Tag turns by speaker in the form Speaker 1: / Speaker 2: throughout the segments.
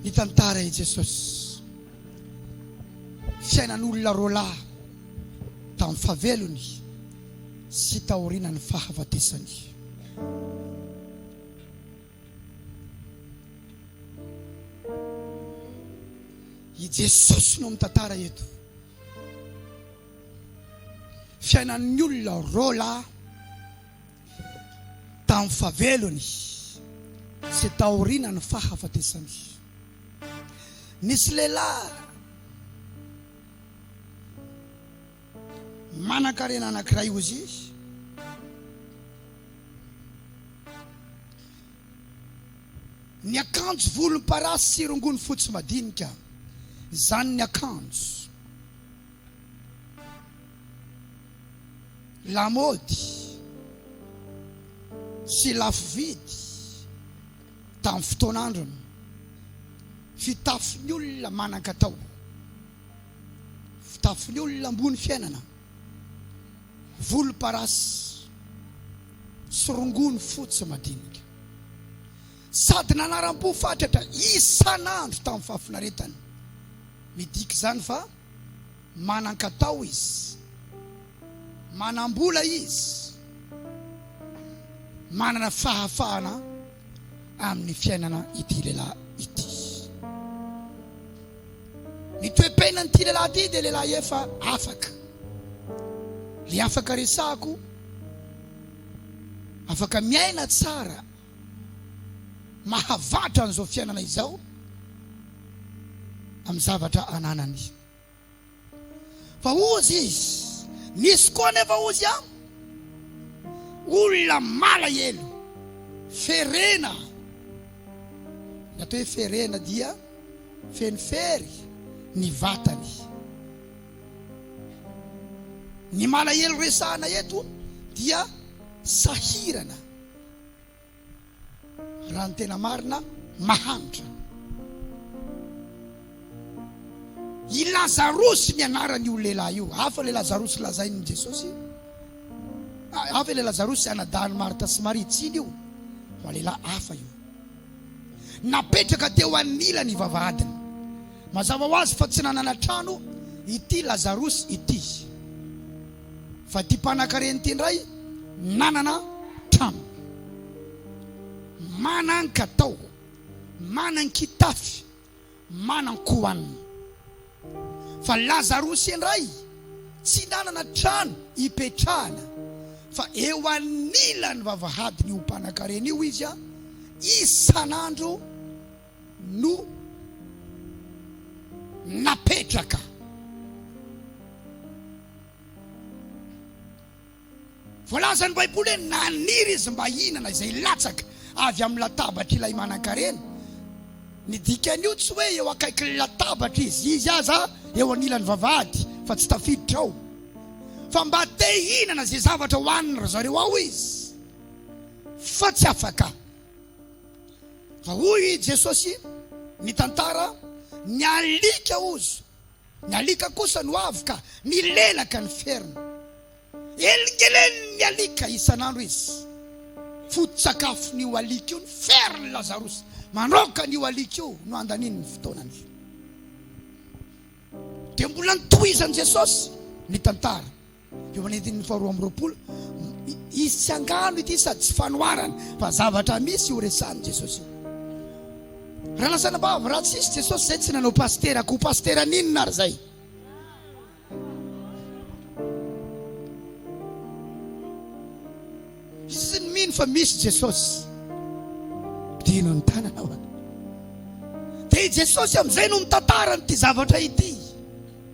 Speaker 1: Nitantara i Jesosy fiainan'olona roa lahy tamin'ny fahavelony sy taorianan'ny fahafatesany. I Jesosy no mitantara eto fiainan'ny olona roa lahy tamin'ny fahavelony sy taorianan'ny fahafatesany. Nisy lehilahy manankarena anankiray, Ozy, niakanjo volomparasy sy rongony fotsy madinika, izany niakanjo. Lamaody sy lafo vidy tamin'ny fotoan'androny. Fitafin'ny olona manan-katao, fitafin'ny olona ambony fiainana, volomparasy sy rongony fotsy madinika. Sady nanaram-po fatratra isan'andro tamin'ny fahafinaretany. Midika izany fa. Manan-katao izy, manam-bola izy, manana fahafahana amin'ny fiainana ity lehilahy ity. Ny toe-piainan'ity lehilahy ity dia lehilahy efa afaka. Ilay afaka resahako, afaka miaina tsara. mahavatra an'izao fiainana izao amin'ny zavatra ananany. Fa hozy izy, misy koa anefa hozy an, olona malahelo, ferena. Ny atao hoe ferena dia feno fery ny vatany. Ny malahelo resahana eto dia sahirana. Raha ny tena marina, mahantra. I Lazarosy ny anaran'io lehilahy io. Hafa ilay Lazarosy lazain'i Jesosy. Ah, hafa ilay Lazarosy anadahin'i Marta sy Maria. Tsy iny io, fa lehilahy hafa io. Napetraka teo anila ny vavahadiny. Mazava ho azy fa tsy nanana trano ity Lazarosy ity. Fa ty mpanakarena ty ndray manana trano, manan katao, manan kitafy, manan kohanina. Fa lazarosy ndray tsy nanana trano ipetrahana fa eo anilan'ny vavahadin'io mpanakarena io izy isan'andro. no napetraka Voalaza ny baiboly hoe naniry izy mba hihinana izay latsaka avy amin'ny latabatr'ilay manankarena. Ny dikan'io tsy hoe eo akaikin'ny latabatra izy, izy aza eo anilan'ny vavahady fa tsy tafiditra ao, fa mba te hihinana izay zavatra hohanin-dry zareo ao izy fa tsy afaka. Fa hoy i Jesosy, mitantara, Ny alika ozo, ny alika kosa no avo ka milelaka ny feriny. Elingelen'ny alika isan'andro izy. Foto-tsakafon'io alika io ny ferin'i Lazarosy. Manaoka an'io alika io no handaniany ny fotoanany. Dia mbola notohizan'i Jesosy nitantara. Eo amin'ny andininy faharoa amby roapolo, izy tsy angano ity sady tsy fanoharana fa zavatra misy io resahan'i Jesosy io. Raha lasa anabavy raha tsisy Jesosy izay tsy nanao pasitera, koa pasitera n'inona ary izay? Tsy ny mino fa misy Jesosy. Dino ny tanana hoana. Dia i Jesosy amin'izay no mitantara an'ity zavatra ity.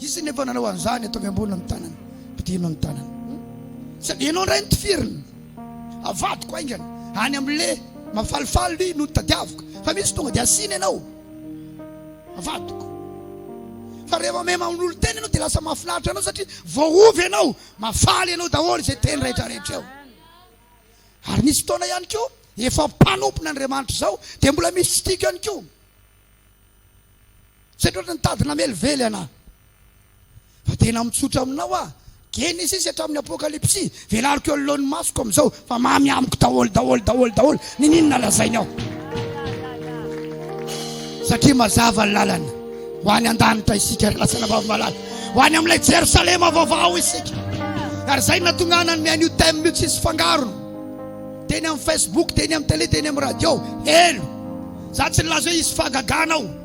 Speaker 1: Izy nefa nanao an'izany ataovy ambony amin'ny tanana, pitihino amin'ny tanana. Sady ianao indray no tifirina. Avadiko haingana any amin'ilay mafalifaly no tadiaviko. Fa misy tonga dia asiana ianao. Avadiko. Fa rehefa mahay mamonolo tena ianao dia lasa mahafinaritra anao satria voaovy ianao, mahafaly ianao daholo izay teny rehetra rehetra eo. Ary nisy fotoana ihany koa efa mpanompona Andriamanitra izao dia mbola misy tsy tiako ihany koa. Tsy haiko loatra ny tady namelively anà. Fa tena mitsotra aminao aho. Genesisy hatramin'ny Apokalypsy, velariko eo anoloan'ny masoko amin'izao, fa mamy amiko daholo, daholo, daholo, daholo ny n'inona lazainy aho. Satria mazava ny lalana, ho any an-danitra isika ry lasana vavy-malala, ho any amin'ilay Jerosalema vaovao isika. Ary izay no nahatonga ahy nanome an'io thème io tsisy fangarony. Teny amin'ny Facebook, teny amin'ny télé, teny amin'ny radio, helo. Izaho tsy nilaza hoe hisy fahagagana ao.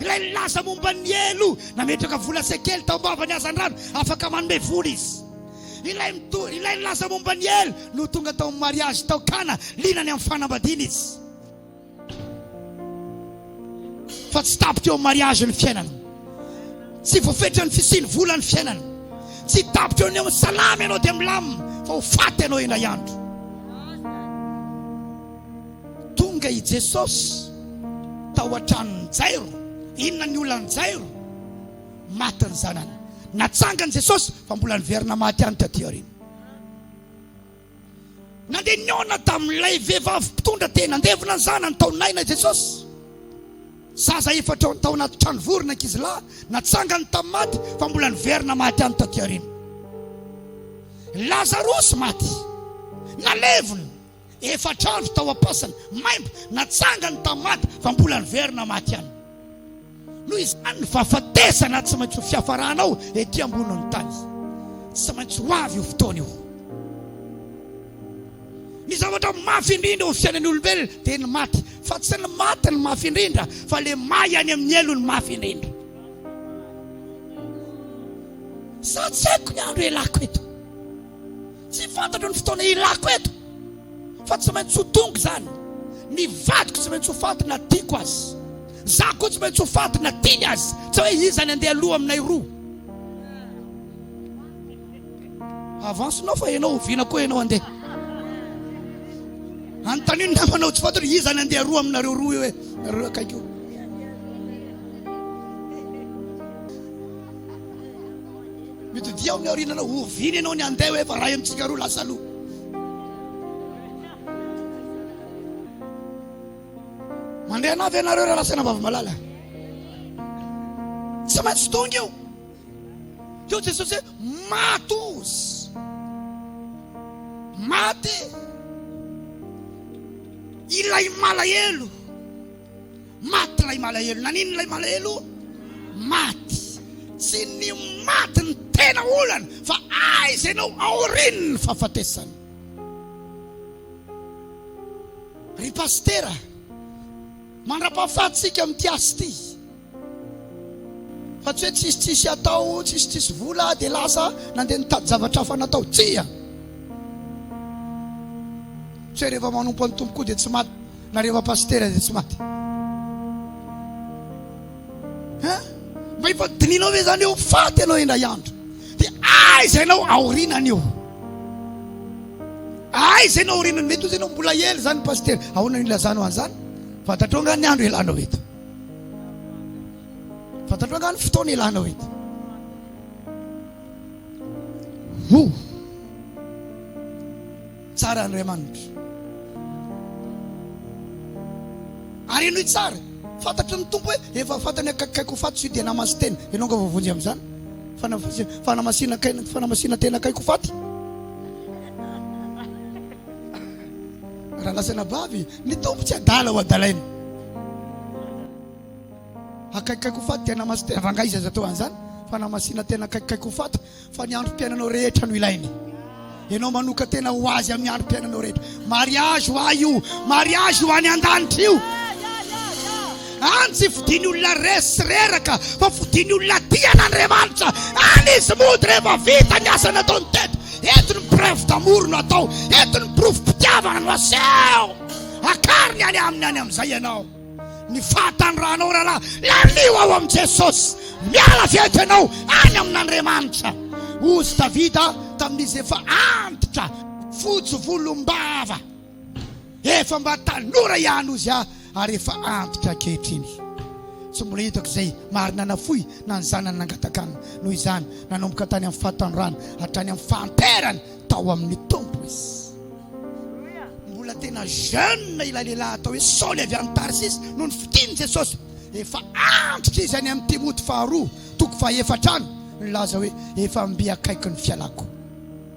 Speaker 1: Ilay nilaza momba ny helo nametraka vola sy kely tao am-bavan'ny hazandrano afaka manome vola izy. Ilay, ilay nilaza momba ny helo no tonga tao amin'ny mariazy tao Kana, liana any amin'ny fanambadiana izy. Fa tsy tampy teo amin'ny mariazy ny fiainana. Tsy voafetra ny fisian'ny vola ny fiainana. Tsy tampy teo amin'ny salama ianao dia milamina fa ho faty ianao indray andro. Tonga i Jesosy tao an-tranon'i Jairo. Inona ny olan'i Jairo? Maty ny zanany. Natsangany Jesosy fa mbola niverina maty ihany taty aoriana. Nandeha nihaona tamin'ilay vehivavy mpitondra tena handevina ny zanany tao Naina i Jesosy. Zaza efatra tao anaty trano vory ny ankizilahy. Natsangany tamin'ny maty fa mbola niverina maty ihany taty aoriana. Lazarosy maty. Nalevina. Efatra andro tao am-paosiny, maimbo, natsangany tamin'ny maty fa mbola niverina maty ihany. Noho izany, ny fahafatesana tsy maintsy ho fiafarana ao ety ambonin'ny tany. Tsy maintsy ho avy io fotoana io. Ny zavatra mafy indrindra eo amin'ny fiainan'ny olombelona dia ny maty, fa tsy ny maty no mafy indrindra, fa ilay may any amin'ny helo no mafy indrindra. Sa tsy haiko ny andro ialako eto? Tsy fantatro ny fotoana ilako eto fa tsy maintsy ho tonga izany. Ny vadiko tsy maintsy ho faty na tiako azy. Za koa tsy maintsy ho faty na tiany azy. Tsy hoe iza ny andeha aloha aminay roa. Avance-nao fa ianao oviana koa ianao andeha. Anontanio ny namanao tsy fantatro iza ny andeha roa aminareo roa io hoe nareo akaiky io. Mitodiha amin'ny aoriana anao, oviana ianao ny handeha hoe fa ray amintsika roa lasa aloha. Mandeha anavy ianareo raha lasaina vavamalala. Tsy maintsy tonga io. Teo Jesosy hoe matos. Maty ilay malahelo. Maty ilay malahelo. Naninona ilay malahelo? Maty. Tsy ny maty ny tena olana fa aiza ianao aorian'ny fahafatesana. Ry pasitera, mandrapahafahatsika amin'ity asa ity. Fa tsy hoe tsisy tsisy atao, tsisy tsisy vola dia lasa nandeha nitady zavatra hafa natao. Tsia! Tsy hoe rehefa manompo an'i Tompo koa dia tsy maty na rehefa pasitera dia tsy maty. Ha? Mba efa dinihinao ve izany eo faty ianao indray andro? Dia aiza ianao aorinan'io? Aiza ianao aorinan'io? Mety ho izy ianao mbola ela izany pasitera. Ahoana no ilazanao an'izany? Fantatrao angaha ny andro ialanao eto? Fantatrao angaha ny fotoana ilanao eto? Ho! Tsara Andriamanitra. Ary henoy tsara, fantatry ny Tompo hoe efa fantany akaikikaiky ho faty tsy dia namasy tena. Ianao angaha voavonjy amin'izany? Fanamasinan-tena akaiky ho faty. Raha lazaina vavy, ny Tompo tsy adala ho adalaina. Akaikikaiky ho faty dia namas tena rangahy izay zato an'izany fa namasina tena akaikikaiky ho faty fa ny androm-piainanao rehetra no ilainy. Ianao manoka tena ho azy amin'ny androm-piainanao rehetra. Mariage ho ahy io, mariage ho any an-danitra io. Any tsy fidiny olona resy sy reraka fa fidiny olona tia an'Andriamanitra any izy mody rehefa vita ny asa nataony teto. Eto ny preuve d'amour no atao, eto ny porofom-pitiavana no aseho. Akariny any aminy any amin'izay ianao ny fahataniranao rahalahy, lalio ao amin'i Jesosy, miala avy eto ianao any amin'Andriamanitra. Hozy Davida tamin'izy efa antitra fotsy volom-bava. Efa mba tanora ihany ozy aho ary efa antitra ankehitriny. Tsy mbola hitako izay marina nafoy na ny zanany nangataka aminy. Noho izany, nanomboka tany amin'ny fahatanorany hatrany amin'ny fahanterany tao amin'ny Tompo izy. Mbola tena jeune ilay lehilahy atao hoe Saoly avy any Tarsisy nony fitin'i Jesosy. Efa antitra izy any amin'ny Timoty faharoa toko fahaefatra any nilaza hoe, Efa mby akaiky ny fialako.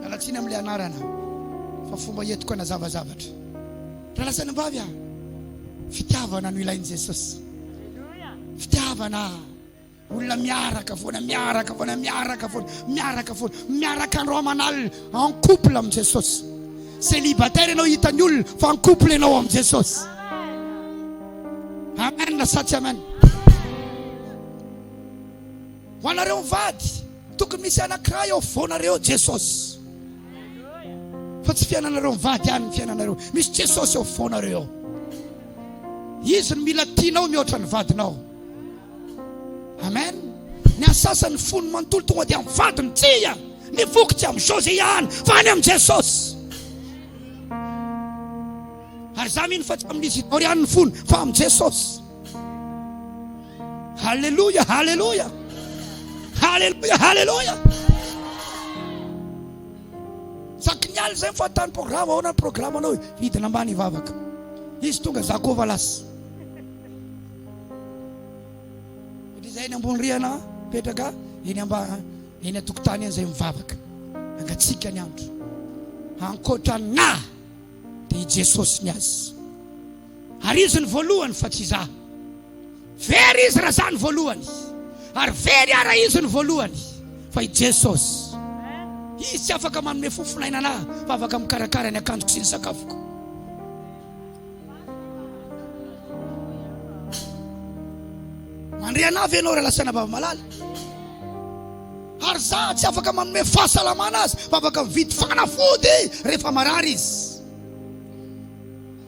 Speaker 1: Miala tsiny amin'ilay anarana fa fomba entiko hanazava zavatra. Ry lahy sy anabavy ah, fitiavana no ilain'i Jesosy. Fitiavana ah. Olona miaraka foana, miaraka foana, miaraka foana, miaraka foana, miaraka andro aman'alina en couple amin'i Jesosy. Célibataire ianao hitan'ny olona fa en couple ianao amin'i Jesosy. Amen sa tsy amen? Ho anareo mivady, tokony misy anankiray eo afovoanareo, Jesosy. Fa tsy fiainanareo mivady ihany ny fiainanareo. Misy Jesosy eo afovoanareo eo. Izy no mila tianao mihoatra ny vadinao. Amen. Ny asasany fony manontolo tonga dia amin'ny vadiny. Tsia, ny voky tsy amin'izao izay ihany, fa any amin'i Jesosy. Ary za mino fa tsy amin'izy ireo ihany ny fony, fa amin'i Jesosy. Haleloia, haleloia, haleloia, haleloia. Sakinialy zay fahatany programa, ahoana ny programa anao? Hidina ambany hivavaka. Izy tonga za koa valas. Izay ny ambony rihana petraka eny ambany eny atokotany eny zay mivavaka. Angatsika ny andro. Ankoatra na dia i Jesosy ny azy. Ary izy no voalohany fa tsy izaho. Very izy raha izaho no voalohany, ary very aho raha izy no voalohany, fa i Jesosy. Izy tsy afaka manome fo fon'ainana ahy, fa afaka mikarakara ny akanjoko sy ny sakafoko. Mandre anah ve ianao raha lasaina vava malala? Ary za tsy afaka manome fahasalamana azy, fa afaka mividy fanafody rehefa marary izy.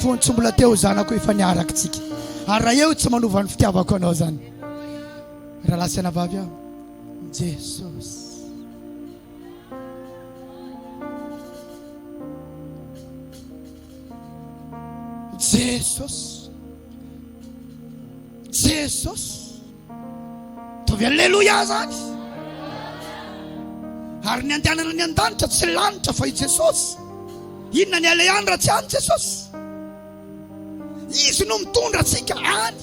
Speaker 1: fony tsy mbola teo zanako efa niarakitsika ary raha eo tsy manova ny fitiavako anao zany raha lasa ana vavy aho jesosy jesosy jesosy Ataovy Alléluia zany. Ary ny andehanana ny an-danitra tsy lanitra fa i Jesosy. Inona ny aleha any raha tsy any Jesosy? Izy no mitondra antsika any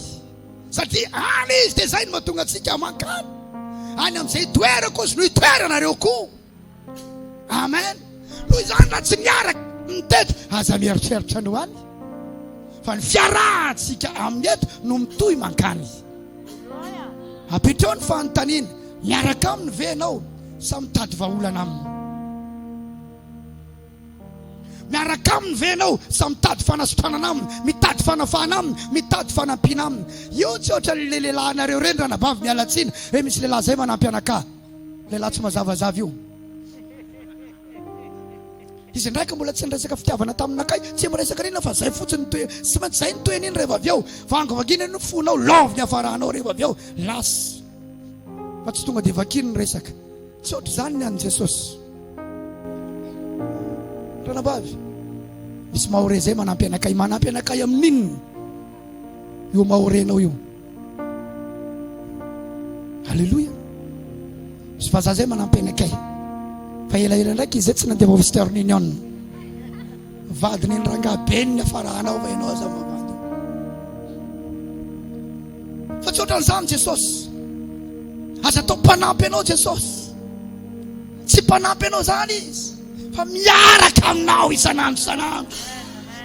Speaker 1: satria any izy dia izay no mahatonga antsika mankany. Any amin'izay toerako izy no hitoeranareo koa. Amen. Noho izany raha tsy miaraka mitety, aza mieritreritra ny ho any fa ny fiarahantsika amin'ny eto no mitohy mankany. Apetrao ny fanontaniana, miaraka aminy ve ianao sa mitady vahaolana aminy? Miaraka aminy ve ianao sa mitady fanasitranana aminy, mitady fanafahana aminy, mitady fanampiana aminy? Io tsy ohatra le lehilahinareo ireny ranabavy mialatsiny, e misy lehilahy zay manampy anakah. Lehilahy tsy mazavazava io. Izy indray ka mbola tsy niresaka fitiavana taminakay, tsy miresaka an'inona fa zay fotsiny toe, tsy maintsy zay ny toe an'iny rehefa avy eo. Vangivangiana ny fonao, love ny hafaranao rehefa avy eo, lasa. Fa tsy tonga dia vakiny ny resaka. Tsy ohatr'izany ny an'i Jesosy. Ranabavy, misy mahore zay manampy anakay, manampy anakay amin'inona io mahorenao io? Alléluia. Sy vazaha zay manampy anakay. Fa elaela ndraiky izy tsy nandeha Western Union. Vadiny ny rangaha beny ny afarahanao fa ianao aza mavady. Fa tsy ohatran'izany Jesosy. Aza atao mpanampy anao Jesosy. Tsy mpanampy anao zany izy fa miaraka aminao isan'andro isan'andro.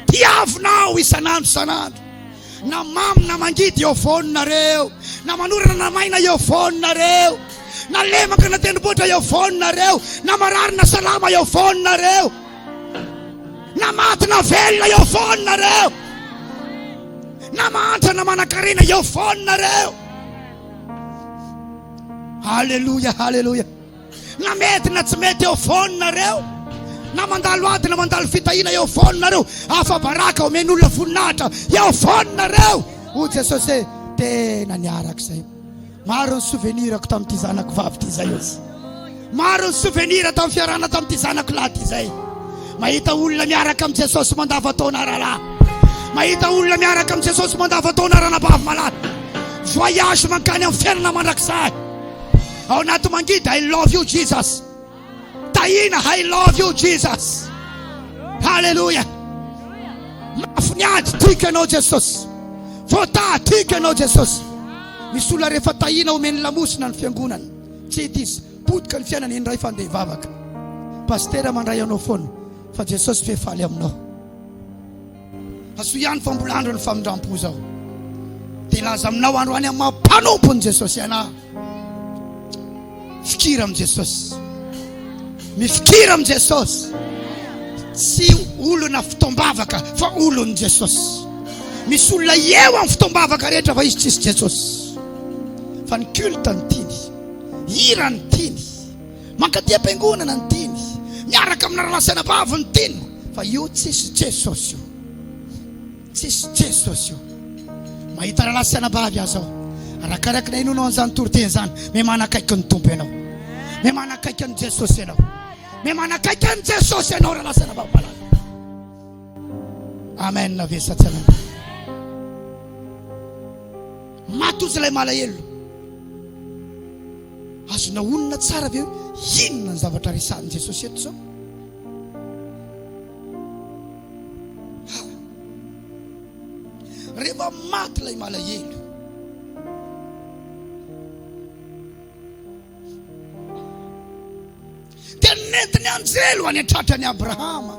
Speaker 1: Tiavinao isan'andro isan'andro. Na mamy na mangidy eo foana nareo, na manorana na maina eo foana nareo, na lemaka na tendrombohitra eo foana nareo, na marary na salama eo foana nareo, na maty na velona eo foana nareo, na mahantra na manankarena eo foana nareo. Haleloia, haleloia. Na mety na tsy mety eo foana nareo, na mandalo ady na mandalo fitahiana eo foana nareo, afa-baraka omen'olona voninahitra eo foana nareo, hoy Jesosy hoe tena niaraka izay. Maro ny souvenir-ko tamin'ity zanako vavy ity izay hozy. Maro ny souvenir tamin'ny fiarahana tamin'ity zanako lahy ity izay. Mahita olona miaraka amin'i Jesosy mandavan-taona rahalahy. Mahita olona miaraka amin'i Jesosy mandavan-taona ranabavy malala. Voyage mankany amin'ny fiainana mandrakizay. Ao anaty mangidy I love you Jesus. Tahiana I love you Jesus. Haleloia. Mafy ny ady tiako ianao Jesosy. Voataha tiako ianao Jesosy. Misy olona rehefa tahiana omeny lamosina ny fiangonana. Tsy hita izy. Potika ny fiainana indray fa andeha hivavaka. Pasitera mandray anao foana fa Jesosy ve faly aminao. Asoy ihany fa mbola andron'ny famindram-po izao. Dia laza aminao androany amin'ny maha-mpanompon'i Jesosy anao. Fikira amin'i Jesosy. Mifikira amin'i Jesosy. Tsy olona fotoam-bavaka fa olon'i Jesosy. Misy olona eo amin'ny fotoam-bavaka rehetra fa izy tsisy Jesosy. Fa ny culte ny tiany. Hira ny tiany. Mankaty am-piangonana ny tiany, miaraka amina rahalahy sy anabavy ny tiany, fa io tsisy Jesosy io. Tsisy Jesosy io. Mahita rahalahy sy anabavy aza aho. Arakaraka na inona an'izany toriteny izany, me manakaiky ny Tompo ianao. Me manakaiky an'i Jesosy ianao. Me manakaiky an'i Jesosy ianao rahalahy sy anabavy malala. Amen na ve sa tsy amen. Maty ozy ilay malahelo. Azonao honina tsara ve hoe inona ny zavatra resahin'i Jesosy eto izao? Ha! Rehefa maty ilay malahelo, Dia nety ny anjely ho any an-tratra an'i Abrahama,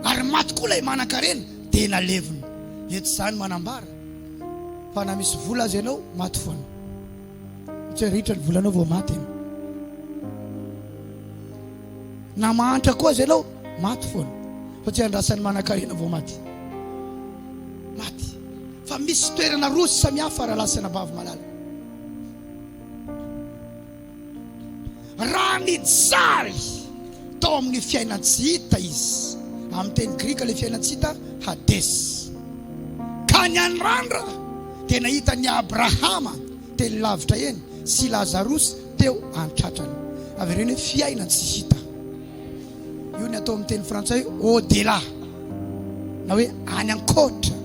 Speaker 1: ary maty koa ilay manan-karena, dia nalevina. Eto izany manambara fa na misy vola aza ianao, maty foana. Tsy hoe ritra ny volanao vao maty ianao. Na mahantra koa aza ianao, maty foana. Fa tsy andrasan'ny manan-karena vao maty. Maty. Fa misy toerana roa samihafa raha lasan'abavy malala. Raha nijary tao amin'ny fiainan-tsy hita izy, amin'ny teny grika ilay fiainan-tsy hita, Hades, ka ny an'i Randra dia nahita an'i Abrahama teny lavitra eny sy i Lazarosy teo an-tratrany. Avereno hoe fiainan-tsy hita. Io ny atao amin'ny teny frantsay hoe au-delà na hoe any an-koatra.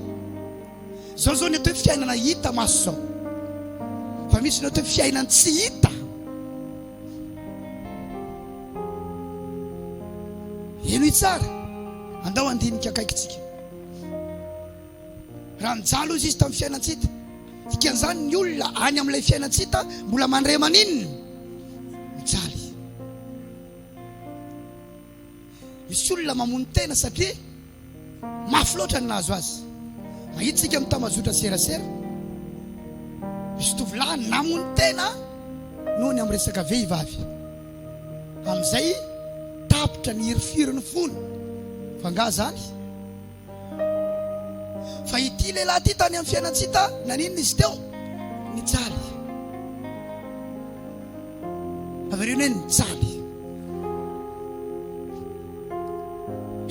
Speaker 1: Zao zao ny atao hoe fiainana hita maso zao. Fa misy ny atao hoe fiainana tsy hita. Henoy tsara. Andao andinika akaikitsika. Raha mijalo izy izy tamin'ny fiainana tsy hita. Dikan'izany ny olona any amin'ilay fiainana tsy hita mbola mandre maninona? Misy olona mamono tena satria mafy loatra ny nahazo azy. Mahita isika amin'ny tambajotra serasera, misy tovolahy namono tena noho ny amin'ny resaka vehivavy. Amin'izay tapitra ny hirifiry ny fony. Fa angaha izany? Fa ity lehilahy ity tany amin'ny fiainan-tsita naninona izy teo? Nijaly. Avereno hoe nijaly.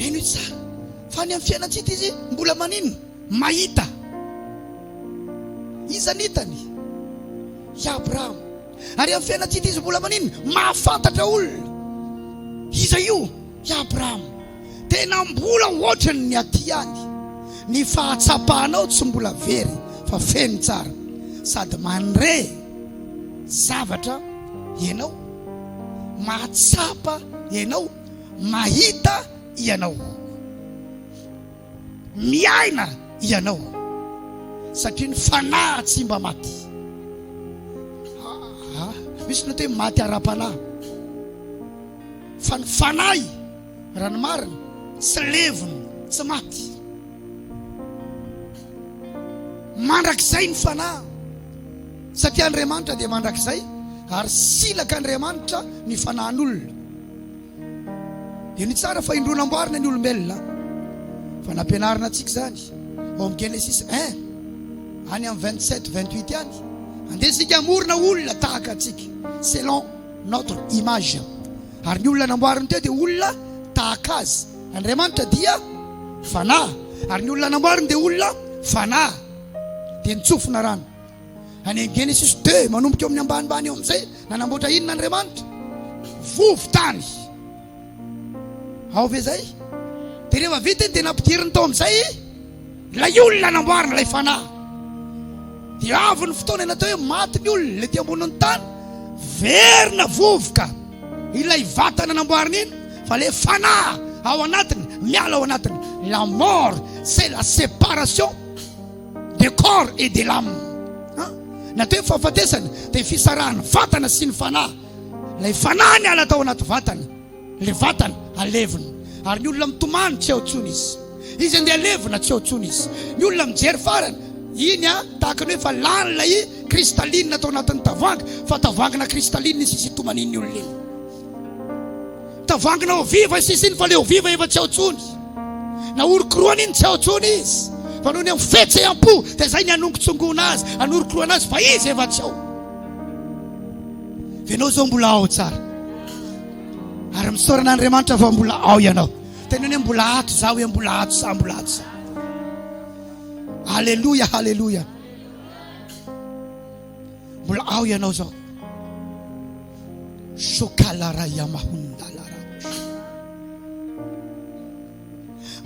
Speaker 1: Heno tsara. Fa ny amin'ny fiainan-tsita izy mbola maninona? Mahita. Iza nitany? I Abrahama. Ary amin'ny fiainan-tsita izy mbola maninona? Mahafantatra olona. Iza io? I Abrahama. Tena mbola ohatrany ny aty ihany, ny fahatsapanao tsy mbola very fa feno tsara sady manre zavatra ianao, mahatsapa ianao, mahita ianao, miaina ianao satria ny fanahy tsy mba maty. Misy ny atao hoe maty ara-panahy fa ny fanahy. Raha ny marina, tsy levona, tsy maty. Mandrakizay ny fanahy, satria Andriamanitra dia mandrakizay, ary silaka Andriamanitra ny fanahin'olona. Dia ny tsara fa indroa namboarina ny olombelona, fa nampianarina antsika izany ao amin'ny Genesisy 1, any amin'ny 27, 28 any. Andeha isika hamorona olona tahaka antsika, selon notre image. Ary ny olona namboariny teo dia olona tahaka azy. Andriamanitra dia Fanahy, ary ny olona namboariny dia olona Fanahy. Dia nitsofina rano. Any amin'ny Genesisy deux, manomboka eo amin'ny ambanimbany eo amin'izay, nanamboatra inona Andriamanitra? Vovo-tany. Ao ve izay? Dia rehefa vita iny dia nampidiriny tao amin'izay. Ilay olona namboarina ilay fanahy. Dia avy ny fotoana natao hoe maty ny olona, ilay te ambonin'ny tany, verina vovoka ilay vatana namboarina iny, fa ilay fanahy ao anatiny miala ao anatiny. La mort, c'est la séparation de corps et de l'âme. Natao hoe fahafatesana, dia fisarahan'ny vatana sy ny fanahy. Ilay fanahy niala tao anaty vatana. Ilay vatana alevina, ary ny olona mitomany tsy eo intsony izy. Izy andeha alevina, tsy eo intsony izy. Ny olona mijery farany, iny an, tahaka ny hoe efa lany ilay kristalinina tao anatin'ny tavoahangy, fa tavoahangina kristalinina iny sisa itomanin'ny olona iny. Tavoahangina eau viva iny sisa iny, fa ilay eau viva efa tsy eo intsony. Nahorokoroana iny, tsy eo intsony izy. Fa noho ny amin'ny fihetseham-po, dia izay ny hanongotsongoana azy, hanorokoroana azy, fa izy efa tsy eo. dia ianao izao mbola ao tsara ary misaorana andriamanitra fa mbola ao ianao tena ny hoe mbola ato za hoe mbola ato za mbola ato za aleloia aleloia mbola ao ianao zao sokalara iamahondalara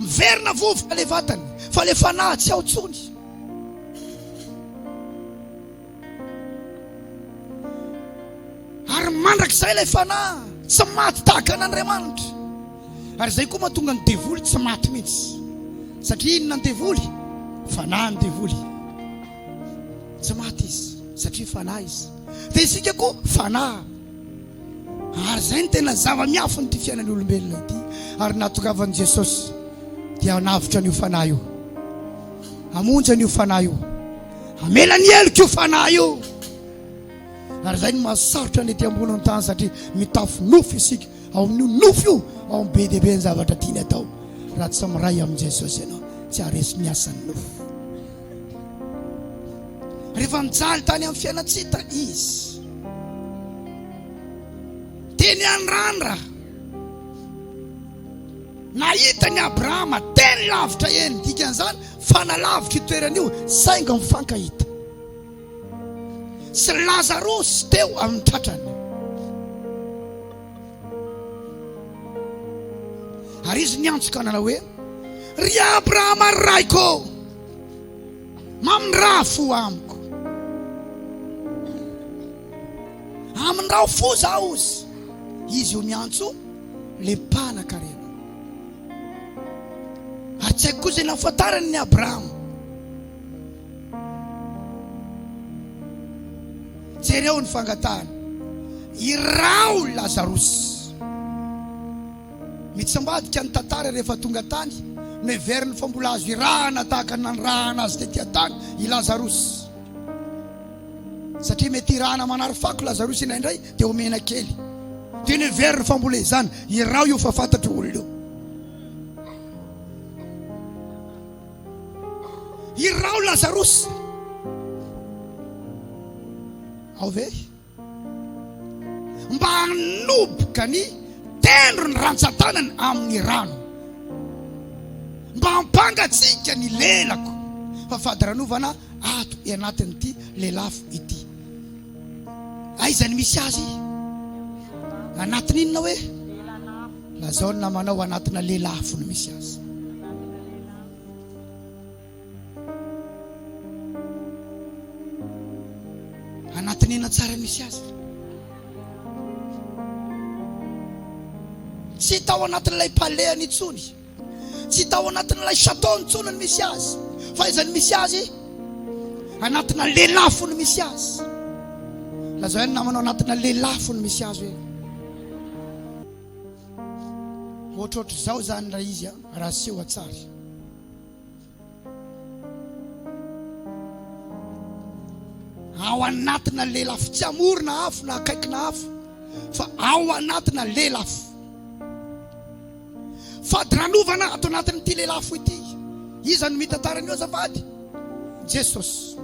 Speaker 1: miverina vovoka le vatany fa le fanahy tsy ao tsony Ary mandrakizay ilay fanahy tsy maty tahaka an'Andriamanitra. Ary izay koa mahatonga ny devoly tsy maty mihitsy. Satria inona ny devoly? Fanahy ny devoly. Tsy maty izy satria fanahy izy. Dia isika koa fanahy. Ary izay ny tena zava-miafin'ity fiainan'ny olombelona ity. Ary natongavan'i Jesosy dia hanavotra an'io fanahy io. Hamonjy an'io fanahy io. Hamela ny heloka io fanahy io. Ary izay no mahasarotra ny ety ambony amin'ny tany satria mitafo nofo isika. Ao amin'io nofo io, ao amin'ny be dia be ny zavatra tiany atao. Raha tsy miray amin'i Jesosy ianao, tsy haharesy ny asan'ny nofo. Rehefa mijaly tany amin'ny fiainantsika izy, dia ny an'i Randra, Nahita an'i Abrahama teny lavitra eny, ny dikan'izany fa nalavitra io toerana io, saingy mifankahita sy Lazarosy teo amin'ny tratrany. Ary izy niantso ka nanao hoe, Ry Abrahama raiko, mamindraha fo amiko. Amindrao fo zaho, hozy izy io niantso. ilay mpanakarena. Ary tsy haiko koa izay nahafantarany ny Abrahama. Jereo ny fangatahany. Iraho Lazarosy. Mitsambadika ny tantara rehefa tonga tany, noheveriny fa mbola azo irahana tahaka ny nanirahana azy tety an-tany i Lazarosy. Satria mety irahana manary fako i Lazarosy indraindray, dia omena kely, dia neverina fa mbola izany, iraho io fa fantatro olona io. Iraho Lazarosy. Ao ve? Mba hanoboka ny tendro ny rantsan-tanany amin'ny rano. Mba hampangatsiaka ny lelako fa fadiranovana ato anatin'ity lelafo ity. Aiza ny misy azy? Anatin' inona hoe? Lazao ny namanao anatina lelafo no misy azy. Anatin' inona tsara ny misy azy? Tsy tao anatin'ilay palehany intsony. Tsy tao anatin'ilay chateau intsony ny misy azy, fa aiza ny misy azy? Anatina lelafo ny misy azy. Lazao ihany namanao anatina lelafo ny misy azy hoe ohatrohatr'izao zany raha izy raha seho an-tsary. Ao anatina lelafo, tsy amorona afo na akaikina afo, fa ao anatina lelafo. Fadiranovana ato anatin'ity lelafo ity. Iza no mitantara an'io azafady? Jesosy.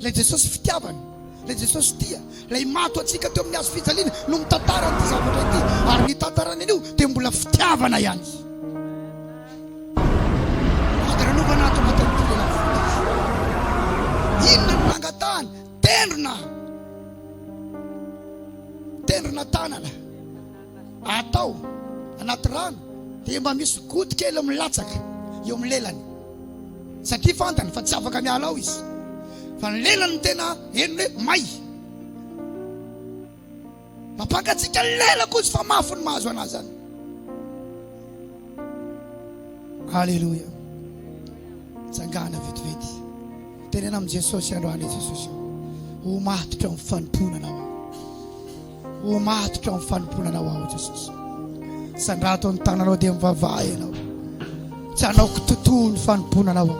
Speaker 1: Ilay Jesosy fitiavana, ilay Jesosy tia, ilay maty ho antsika teo amin'ny hazo fijaliana no mitantara an'ity zavatra ity, ary ny tantarany anio dia mbola fitiavana ihany. Fitaranovana ato anatin'ny firenena. Inona no nangatahany? Tendrona! Tendrona tanana. Atao anaty rano dia mba misy goutte kely milatsaka eo amin'ny lelany. Satria fantany fa tsy afaka miala ao izy. Fa ny lelany no tena henony hoe may. Mampangatsiaka ny lela koa izy fa mafy ny mahazo an'azy zany. Aleloia. Tsangana vetivety. Tenena amin'i Jesosy androany i Jesosy. Ho matotra amin'ny fanompoana anao. Ho matotra amin'ny fanompoana anao aho Jesosy. Sandrato ny tananao dia mivavaha ianao. Tsy hanao kitotoa ny fanompoana anao.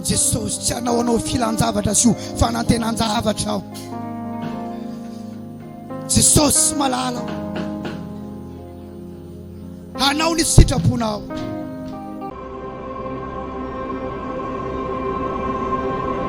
Speaker 1: Jesosy, tsy hanao anao filan-javatra sy ho fanantenan-javatra aho. Jesosy malala, hanao ny sitraponao.